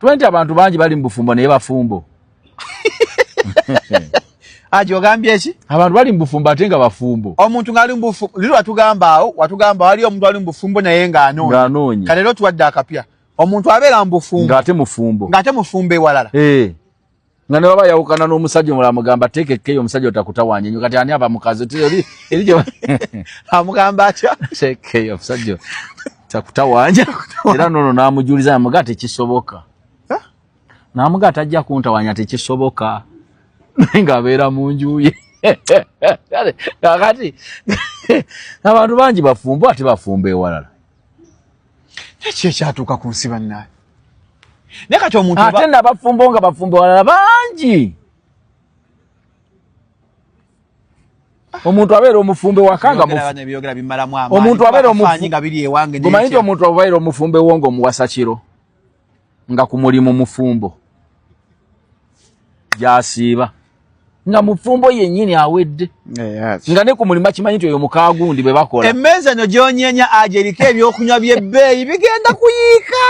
20 abantu bangi bali mu bufumbo naye bafumbo aji ogambye ki abantu bali mu bufumbo ate nga bafumbo omuntu ngali mu bufumbo liri watugambaawo watugamba wali omuntu ali mu bufumbo naye nga anoonyi anoonyi kale lero tuwadde akapya omuntu abeera mu bufumbo ng'ate mufumbo ng'ate mufumbo ewalala hey. Eh. nga ne baba yawukana n'omusajja omulala mugamba teeka ekkeyo omusajja otakutawanya nyo kati ani aba mukazi teri erijo amugamba atya tekeyo omusajja takutawanya era nono n'amujuliza namuga tekisoboka namuga tajja kuntawanya tekisoboka naye ng'abeera mu nju ye kakati abantu bangi bafumba ate bafumba ewalala Kiki ekyatuuka ku nsi bannaye? Naye kati omuntu ate nabafumbo nga bafumbo walala bangi omuntu abeera omufumbe wakanga omuntu abeera omufu omanyi nti omuntu abeera omufumbe wo nga omuwasa kiro nga ku mulimu mufumbo gyasiiba nga mufumbo yennyini awedde nga ne ku mulimu akimanyi nti oyo mukaagundi bwe bakola emmeeza no gyonyenya aja eriko ebyokunywa by'ebbeeyi bigenda kuyiika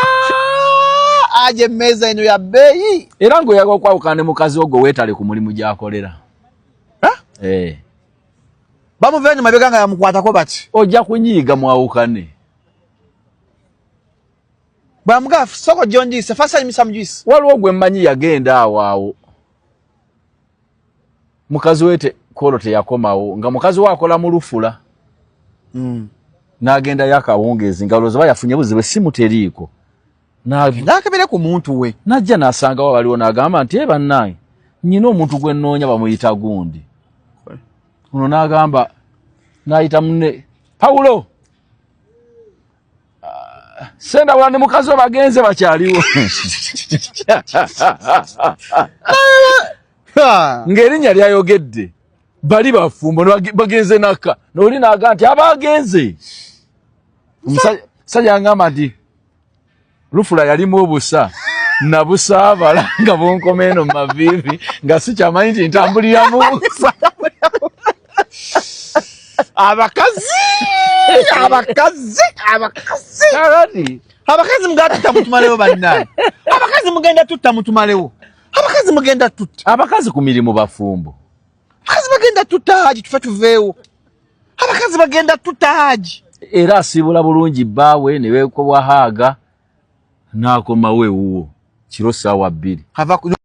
aja emmeeza eno ya bbeeyi era ng'oyaga okwawukana ne mukazi ogwo weetale ku mulimu gy'akolera eh. bamuva eno mabega nga yamukwatako bati ojja kunyiiga mwawukane Bwamugafu soko jonji se fasa imisa mjuisi. Walu ogwe mmanyi yagenda awawo. Mukazi wete kolo te yakomawo. Nga mukazi wakola mulufula. Mm. Na agenda yaka wongezi. Nga ulozoba ya funyebuzi we simu teriko. Na agenda yaka bile kumuntu we. Na jana asanga wawali wana agama. Nteba nangi. Njino mtu kwe nonya wa muita gundi. Kwe. Uno na agamba. Na ita mne. Paulo. senda wala ne mukazi we bagenze bakyaliwo ng'erinnya lyayogedde bali bafumbo bagenze naka noli naga nti abagenze omusajja ngamba nti lufula yalimu obusa nabusaabala nga bunkoma eno mumaviivi nga sikyamanyi nti ntambuliramu abakazi abakazi abakazi abakazi mugenda tutta mutumalewo bannaye abakazi mugenda tutta mutumalewo abakazi mugenda tutta abakazi ku mirimu bafumbo abakazi bagenda tutta haji tufe tuveewo abakazi bagenda tutta haji era asiibula bulungi bbaawe ne beekobwa haaga n'akomawo ewuwo kiro ssaawa bbiri